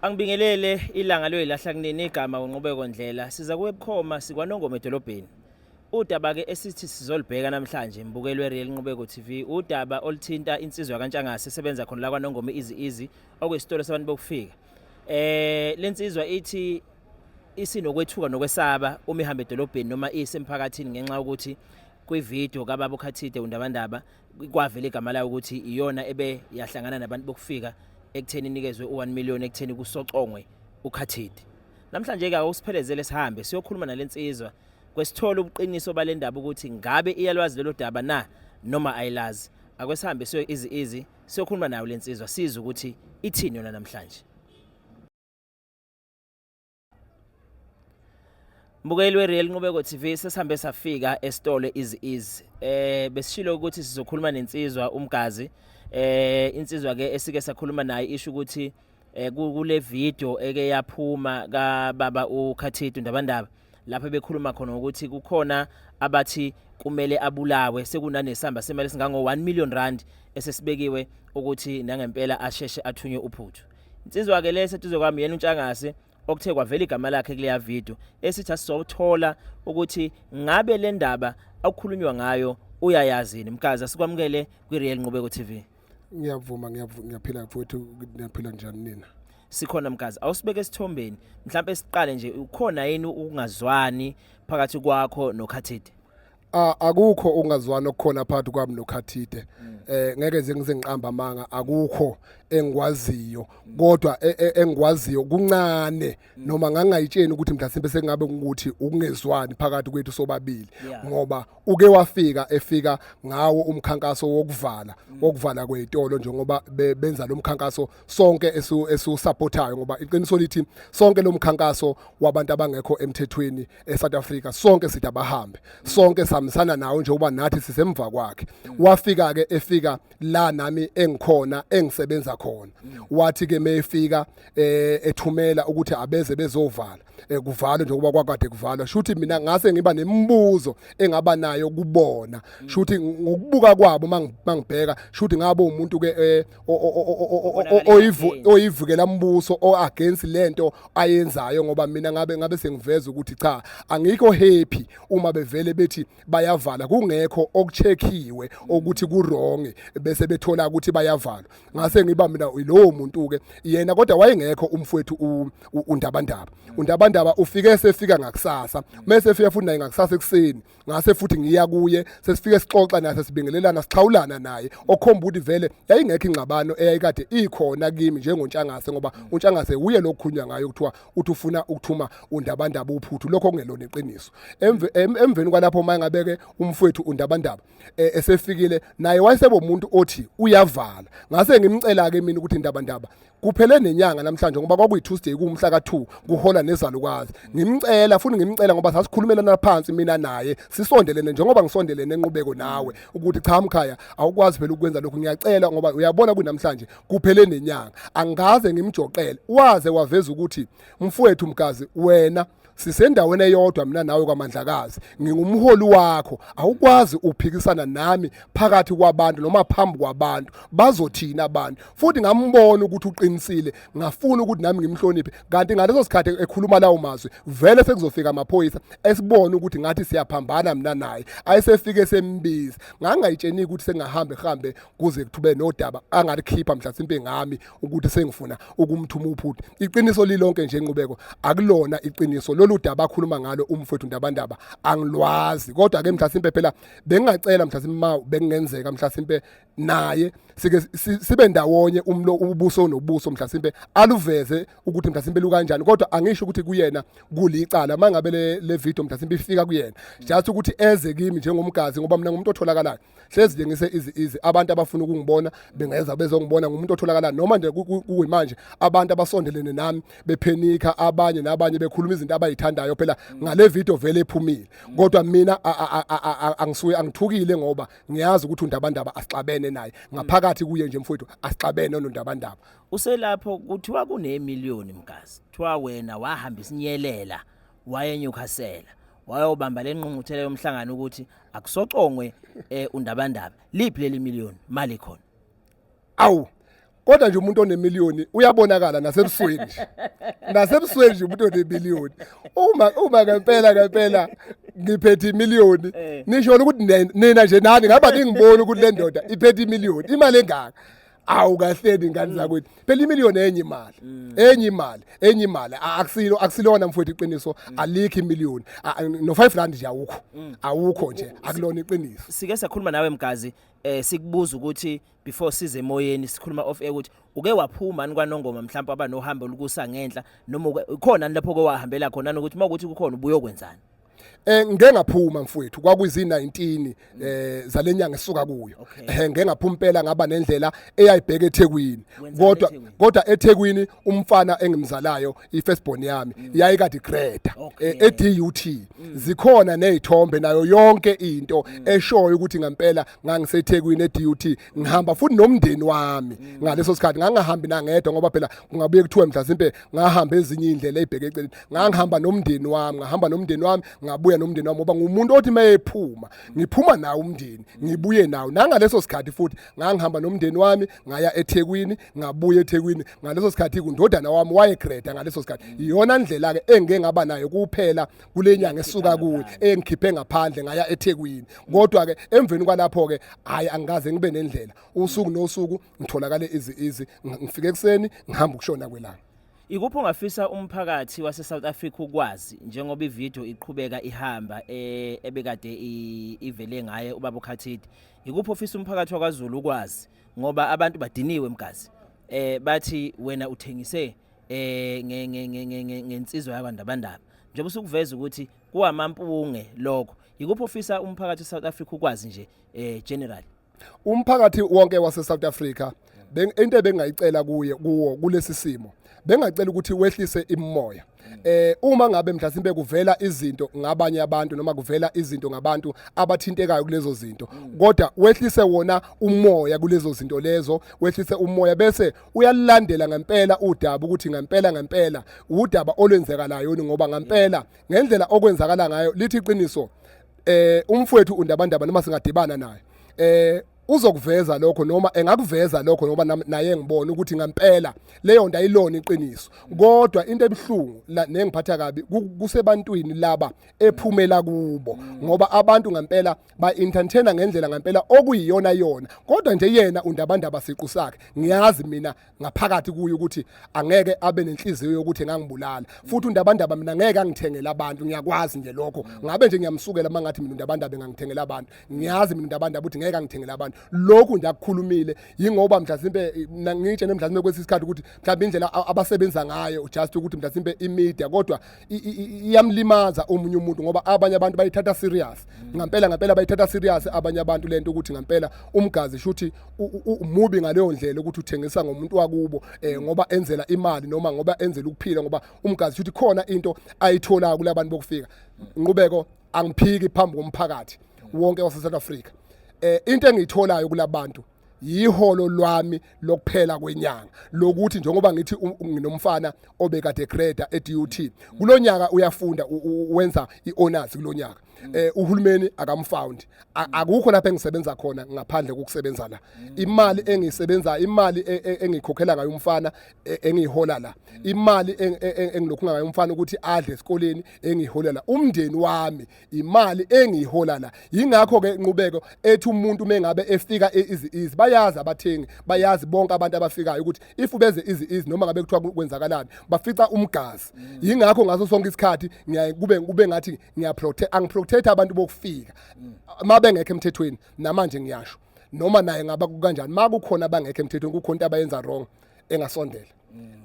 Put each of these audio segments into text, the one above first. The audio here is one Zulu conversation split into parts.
Angibingelele ilanga loyilahla kunini igama unqubeko ndlela siza kuwe bukhoma sikwanongoma edolobheni udaba ke esithi sizolibheka namhlanje mbukelwe Real Nqubeko TV udaba olithinta insizwa kaNtshangase sebenza khona la kwaNongoma izi izi okwesitolo sabantu bokufika eh lensizwa ithi isinokwethuka nokwesaba uma ihamba edolobheni noma isemphakathini ngenxa ukuthi kwivideo kababa uKhathide undabandaba kwavela igama layo ukuthi iyona ebe yahlangana nabantu bokufika ekutheni inikezwe u1 million ekutheni kusocongwe ukhathidi namhlanje ke awusiphelezele sihambe siyokhuluma nalensizwa kwesithola ubuqiniso balendaba ukuthi ngabe iyalwazi lelo daba na noma ayilazi akwesihambe siyo izi izi siyokhuluma nayo lensizwa siza ukuthi ithini yona namhlanje Mbukeli weReal Nqubeko TV sesihambe safika esitolo izi izi eh besishilo ukuthi sizokhuluma nensizwa umgazi eh insizwa ke esike sakhuluma naye isho ukuthi eh, kule video eke yaphuma ka baba uKhathidu ndabandaba lapho bekhuluma khona ukuthi kukhona abathi kumele abulawe sekunanesamba semali singango 1 million rand esesibekiwe ukuthi nangempela asheshe athunywe uphuthu Insizwa ke lesi eduze kwami yena uNtshangase okuthe kwavela igama lakhe kuleya video esithi asizothola ukuthi ngabe le ndaba akukhulunywa ngayo uyayazini mkazi asikwamukele kwi-real nqubeko tv ngiyavuma ngiyaphila mfowethu ngiyaphila njani nina sikhona mkazi awusibeke esithombeni mhlawumbe siqale nje ukhona yini ukungazwani phakathi kwakho nokhathide Ah, akukho ungazwani okukhona phakathi kwami nokhathide eh ngeke nje ngizengiqamba amanga akukho engikwaziyo kodwa e- e- engikwaziyo kuncane noma ngangayitsheni ukuthi mhlasimbe sekungabe ukuthi ukungezwani phakathi kwethu sobabili Yeah. ngoba uke wafika efika ngawo umkhankaso wokuvala wokuvala kwezitolo njengoba be- benza lo mkhankaso sonke esiwusupportayo ngoba iqiniso lithi sonke lo mkhankaso wabantu abangekho emthethweni eSouth Africa sonke sithi abahambe sonke samisana nawo njengoba nathi sisemva kwakhe wafika ke efika la nami engikhona engisebenza khona wathi ke mefika eh, ethumela ukuthi abeze bezovala eh, kuvalwe njengoba kwakade kuvalwa shuthi mina ngase ngiba nemibuzo engaba nayo kubona shuthi ngokubuka kwabo mangibheka shuthi ngabo umuntu ke eh, oyivukela umbuso o against lento ayenzayo ngoba mina ngabe ngabe sengiveza ukuthi cha angikho happy uma bevele bethi bayavala kungekho okucheckiwe ukuthi ku wrong bese bethola ukuthi bayavalwa ngase ngiba mina yilowo muntu ke yena kodwa wayengekho umfowethu undabandaba undabandaba ufike sefika ngakusasa mase efika futhi naye ngakusasa ekuseni ngase futhi ngiya kuye sesifike sixoxa naye sesibingelelana sixhawulana naye okhomba ukuthi vele yayingekho ingxabano eyayikade ikhona kimi njengontshangase ngoba untshangase uye lokhunywa ngayo kuthiwa uthi ufuna ukuthuma undabandaba uphuthu lokho kungelona iqiniso emveni kwalapho mayengabeke umfowethu undabandaba eh, esefikile naye wayesebe umuntu othi uyavala ngase ngimcela ke mina ukuthi indaba ndaba kuphele nenyanga namhlanje ngoba kwakuyi Tuesday kumhla ka2 kuhola nezalukazi ngimcela futhi ngimcela ngoba sasikhulumelana phansi mina naye sisondelene njengoba ngisondelene enqubeko nawe ukuthi cha mkhaya awukwazi phela ukwenza lokhu ngiyacela ngoba uyabona kunamhlanje kuphele nenyanga angaze ngimjoqele waze waveza ukuthi mfowethu mgazi wena sisendaweni eyodwa mina nawe kwaMandlakazi ngingumholi wakho awukwazi uphikisana nami phakathi kwabantu noma phambi kwabantu bazothina abantu futhi ngambona ukuthi uqinisile ngafuna ukuthi nami ngimhloniphe kanti ngaleso sikhathi ekhuluma lawo mazwi vele sekuzofika amaphoyisa esibona ukuthi ngathi siyaphambana mina naye ayesefike sembiza ngangayitsheni ukuthi sengahamba ehambe kuze kuthube nodaba angalikhipha mhlasimpe ngami ukuthi sengifuna ukumthuma uphuthu iqiniso lilonke nje inqubeko akulona iqiniso lolu daba akhuluma ngalo umfowethu ndabandaba angilwazi kodwa ke mhlasimpe phela bengingacela mhlasimpe ma bekungenzeka mhlasimpe naye sike sibe ndawonye umlo ubuso nobuso mhlasimpe aluveze ukuthi mhlasimpe lukanjani kodwa angisho ukuthi kuyena kulicala mangabe le video mhlasimpe ifika kuyena just ukuthi eze kimi njengomgazi ngoba mina ngumuntu otholakalayo hlezi nje ngise izi izi abantu abafuna ukungibona bengeza bezongibona ngumuntu otholakala noma nje kuyimanje abantu abasondelene nami bephenika abanye nabanye bekhuluma izinto abayithandayo phela ngale video vele ephumile kodwa mina angisuye angithukile ngoba ngiyazi ukuthi undabandaba asixabene naye ngaphakathi kuye nje mfowethu asixabene onondabandaba uselapho kuthiwa kunemillion mgazi kuthiwa wena wahamba isinyelela wayenyukhasela wayobamba lenqunguthela yomhlangano ukuthi akusocongwe eh undabandaba liphi leli million mali khona awu kodwa nje umuntu onemillioni uyabonakala nasebusweni nje nasebusweni nje umuntu onemillioni uma uma ngempela ngempela ngiphethe imillioni eh. nisho ukuthi nina nje nani ngaba ningibona ukuthi le ndoda iphethe imillioni imali engaka awu kahleni ingane mm. zakwethu phela imiliyoni enye imali mm. enye imali enye imali akusilo akusilona mfowethu iqiniso mm. alikho imiliyoni no 5 rand nje awukho awukho nje akulona iqiniso sike sakhuluma nawe mgazi eh sikubuza ukuthi before size emoyeni sikhuluma off air ukuthi uke waphuma ani kwanongoma mhlawumbe abanohambo olukusa ngenhla noma khona lapho ke wahambela khona ukuthi makuthi kukhona ubuyokwenzani Eh ngeke ngaphuma mfowethu kwakuzi 19 eh zalenyanga esuka kuyo. Eh ngeke ngaphuma impela ngaba nendlela eyayibheka eThekwini. Kodwa kodwa eThekwini umfana engimzalayo ifirst born yami mm. yayikade Greta eh, eDUT. Mm. Zikhona nezithombe nayo yonke into mm. eshoyo ukuthi ngempela ngangiseThekwini eDUT ngihamba futhi nomndeni wami mm. ngaleso sikhathi ngangahambi nangedwa ngoba phela kungabuye kuthiwe mhlasimpe ngahamba ezinye indlela ezibheke eceleni ngangihamba nomndeni wami ngahamba nomndeni wami ngabuya nomndeni wami ngoba ngumuntu othi mayephuma ngiphuma nawo umndeni ngibuye nawo nangaleso sikhathi futhi ngangihamba nomndeni wami ngaya eThekwini ngabuya eThekwini ngaleso sikhathi kundodana wami wayegreda ngaleso sikhathi mm. iyona ndlela ke engeke ngaba nayo kuphela kule nyanga esuka kuyo engikhiphe ngaphandle ngaya eThekwini kodwa ke emveni kwalapho ke hayi angikaze ngibe nendlela usuku nosuku ngitholakale izi izi ngifike ekseni ngihamba ukushona kwelanga Ikuphi ongafisa umphakathi wase South Africa ukwazi njengoba ivideo iqhubeka ihamba eh, ebekade ivele ngaye ubaba uKhathidi ikuphi ofisa umphakathi wakwaZulu ukwazi ngoba abantu badiniwe mgazi eh bathi wena uthengise eh nge nge nge nge- nge- ngensizwa yakwandabandaba njengoba usukuveza ukuthi kuwamampunge lokho yikuphi ofisa umphakathi weSouth Africa ukwazi nje eh general umphakathi wonke waseSouth Africa beng- into ebengayicela kuye kuwo kulesi simo bengacela ukuthi wehlise imimoya eh uma ngabe mhlasimbe kuvela izinto ngabanye abantu noma kuvela izinto ngabantu abathintekayo kulezo zinto kodwa wehlise wona umoya kulezo zinto lezo wehlise umoya bese uyalulandela ngempela udaba ukuthi ngempela ngempela udaba olwenzekalayo yini ngoba ngempela ngendlela okwenzakala ngayo lithi iqiniso eh umfowethu undabandaba noma singadibana naye eh uzokuveza lokho noma engakuveza lokho ngoba naye ngibona ukuthi ngempela leyo nto ayilona iqiniso kodwa into ebuhlungu nengiphatha kabi kusebantwini laba ephumela kubo ngoba abantu ngempela ba entertainer ngendlela ngempela okuyiyona yona kodwa nje yena undabandaba siqu sakhe ngiyazi mina ngaphakathi kuye ukuthi angeke abe nenhliziyo yokuthi ngangibulala futhi undabandaba mina ngeke angithengele abantu ngiyakwazi nje lokho ngabe nje ngiyamsukela mangathi mina undabandaba engangithengela abantu ngiyazi mina undabandaba ukuthi ngeke angithengele abantu lokhu nje akukhulumile yingoba mhlawumbe eh, ngitshe nemhlawumbe kwesikhathi ukuthi mhlawumbe indlela abasebenza ngayo just ukuthi mhlawumbe imedia kodwa i- i- i- iyamlimaza omunye umuntu ngoba abanye abantu bayithatha serious ngampela ngampela bayithatha serious abanye abantu lento ukuthi ngampela umgazi shuthi u- u- u- umubi ngaleyo ndlela ukuthi uthengisa ngomuntu wakubo eh ngoba enzela imali noma ngoba enzela ukuphila ngoba umgazi shuthi khona into ayithola kulabantu bokufika nqubeko angiphiki phambi komphakathi wonke wase South Africa eh into engiyitholayo kulabantu yiholo lwami lokuphela kwenyanga lokuthi njengoba ngithi nginomfana obekade grader eDUT kulonyaka uyafunda wenza iHonors kulonyaka eh uhulumeni akamfound akukho lapha engisebenza khona ngaphandle kokusebenza la imali engisebenza imali e, e, engikhokhela ngayo umfana e, engihola la imali engilokhu ngayo umfana ukuthi adle esikoleni engiholela umndeni wami imali engiyihola la yingakho ke inqubeko ethi umuntu mengabe efika easy easy bayazi abathengi bayazi bonke abantu abafikayo ukuthi if ubeze easy easy noma ngabe kuthiwa kwenzakalani bafica umgazi mm. yingakho ngaso sonke isikhathi ngiyaye kube kube ngathi ngiya protect angiprotect abantu bokufika mm. mabengekho emthethweni namanje ngiyasho noma naye ngaba kukanjani makukhona abangekho emthethweni kukhona into abayenza wrong engasondela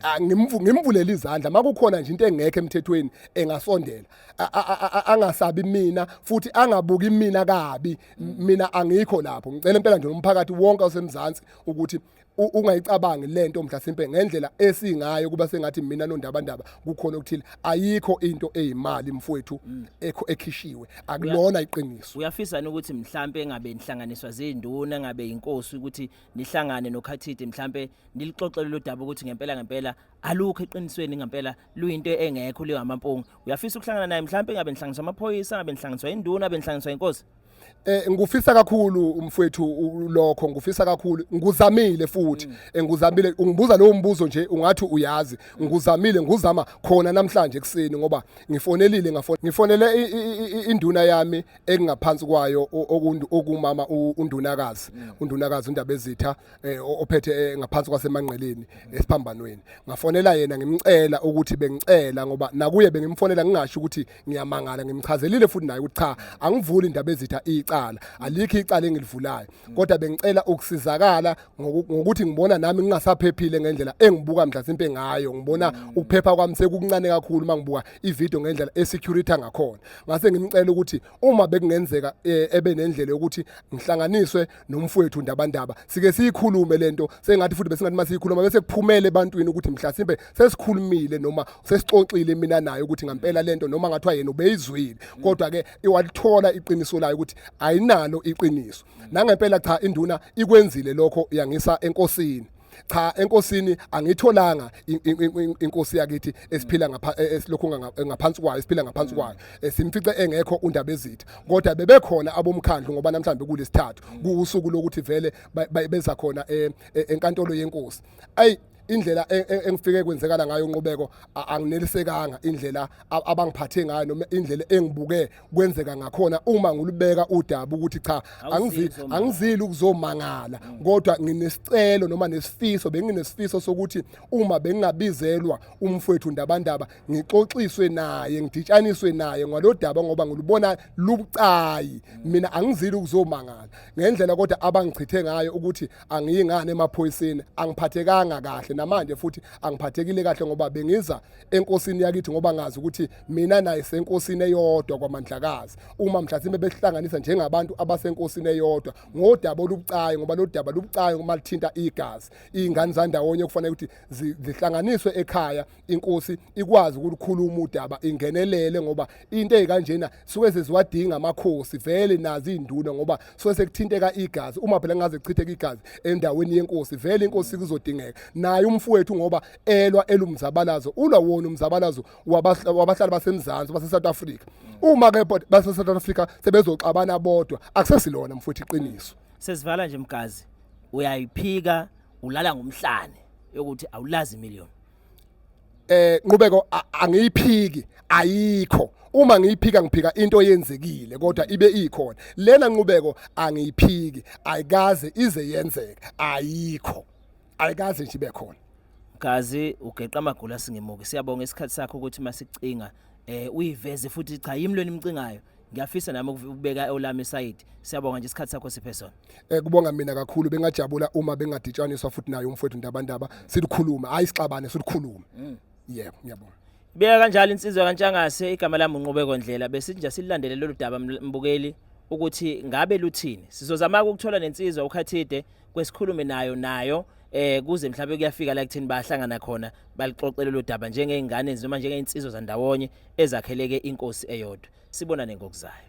Ah, ngimvu- ngimvulele izandla makukhona nje into engekho emthethweni engasondela A- a- a- a- angasabi mina futhi angabuki mina kabi M- mina angikho lapho ngicela impela nje umphakathi wonke osemzansi ukuthi ungayicabangi lento mhlasimpe ngendlela esingayo kuba sengathi mina nondabandaba kukhona okuthile ayikho into eyimali mfowethu mm. ekho ekhishiwe akulona iqiniso uyafisa ukuthi mhlambe engabe inhlanganiswa zinduna engabe inkosi ukuthi nihlangane nokhathide mhlambe nilixoxele lo daba ukuthi ngempela ngempela alukho eqinisweni ngempela luyinto engekho leyo amampungu uyafisa ukuhlangana naye mhlambe engabe inhlanganiswa amaphoyisa engabe inhlanganiswa induna engabe inhlanganiswa inkosi Eh ngufisa kakhulu umfwethu lokho ngufisa kakhulu nguzamile futhi mm. eh, nguzamile ungibuza lowo mbuzo nje ungathi uyazi nguzamile nguzama khona namhlanje ekseni ngoba ngifonelile ngafona ngifonele induna yami engaphansi kwayo okumama undunakazi mm. undunakazi undaba ezitha eh, ophethe eh, ngaphansi kwasemanqeleni mm. esiphambanweni ngafonela yena ngimcela ukuthi bengicela ngoba nakuye bengimfonela ngingasho ukuthi ngiyamangala ngimchazelile futhi naye ukuthi cha angivuli indaba ezitha icala alikho icala engilivulayo kodwa bengicela ukusizakala ngokuthi ngibona nami ngingasaphephile ngendlela engibuka mhlasimpe ngayo ngibona ukuphepha kwami sekukuncane kakhulu uma ngibuka ivideo ngendlela esecurity ngakhona ngase ngimcela ukuthi uma bekungenzeka e, ebe nendlela yokuthi ngihlanganiswe nomfowethu ndabandaba sike siyikhulume lento sengathi futhi besingathi masiyikhuluma bese kuphumele ebantwini ukuthi mhlasimbe sesikhulumile noma sesixoxile mina naye ukuthi ngampela lento noma ngathiwa yena ubeyizwile kodwa ke iwalithola iqiniso layo ukuthi ayinalo iqiniso nangempela cha induna ikwenzile lokho yangisa enkosini cha enkosini angitholanga inkosi yakithi esiphila ngapha e, esilokhu ngaphansi kwayo esiphila ngaphansi kwayo esimfice e, engekho undaba ezitha kodwa bebekhona abomkhandlu ngoba namhlanje kulesithathu kuusuku lokuthi vele beza khona e, enkantolo yenkosi ayi indlela e, e, engifike kwenzekala ngayo unqubeko anginelisekanga indlela abangiphathe ngayo noma indlela engibuke kwenzeka ngakhona uma ngulubeka udaba ukuthi cha angizili ukuzomangala mm. kodwa nginesicelo noma nesifiso benginesifiso sokuthi uma bengingabizelwa umfowethu ndabandaba ngixoxiswe naye ngiditshaniswe naye ngalodaba ngoba ngilubona lubucayi mm. mina angizili ukuzomangala ngendlela kodwa abangichithe ngayo ukuthi angiyingane emaphoyiseni angiphathekanga kahle namanje futhi angiphathekile kahle ngoba bengiza enkosini yakithi ngoba ngazi ukuthi mina naye senkosini eyodwa kwamandlakazi uma mhlasimbe besihlanganisa njengabantu abasenkosini eyodwa ngodaba olubucayi ngoba lodaba lubucayi uma lithinta igazi ingane zandawonye kufanele ukuthi zihlanganiswe ekhaya inkosi ikwazi ukulikhuluma udaba ingenelele ngoba into ezikanjena suke seziwadinga amakhosi vele nazi induna ngoba suke sekuthinteka igazi uma phela ngaze kuchitheka igazi endaweni yenkosi vele inkosi kuzodingeka naye umfowethu ngoba elwa elumzabalazo ulwa wona umzabalazo wabahlali basemzansi baseSouth Africa uma ke baseSouth Africa sebezoxabana bodwa akusesilona mfowethu iqiniso sesivala nje mgazi uyayiphika ulala ngomhlane yokuthi awulazi million eh nqubeko angiyiphiki ayikho uma ngiyiphika ngiphika into yenzekile kodwa ibe ikhona lena nqubeko angiyiphiki ayikaze ize yenzeke ayikho ayikaze nje ibe khona Gazi ugeqa amagula singemuki siyabonga isikhathi sakho ukuthi masicinga eh uyiveze futhi cha yimi lweni imcingayo ngiyafisa nami ukubeka eolami side siyabonga nje isikhathi sakho siphe sona eh kubonga mina kakhulu bengajabula uma bengaditshaniswa futhi naye umfowethu ndabandaba silukhuluma hayi sixabane silukhuluma mm. yebo ngiyabonga Beka kanjalo insizwa kaNtshangase igama lami unqubeko ndlela besithi nje silandele lolu daba mbukeli ukuthi ngabe luthini sizozama ukuthola nensizwa uKhathide kwesikhulume nayo nayo eh kuze mhlawumbe kuyafika la kuthini bahlangana khona balixoxele lo daba njengeingane noma njengeinsizwa zandawonye ezakheleke inkosi eyodwa sibonane ngokuzayo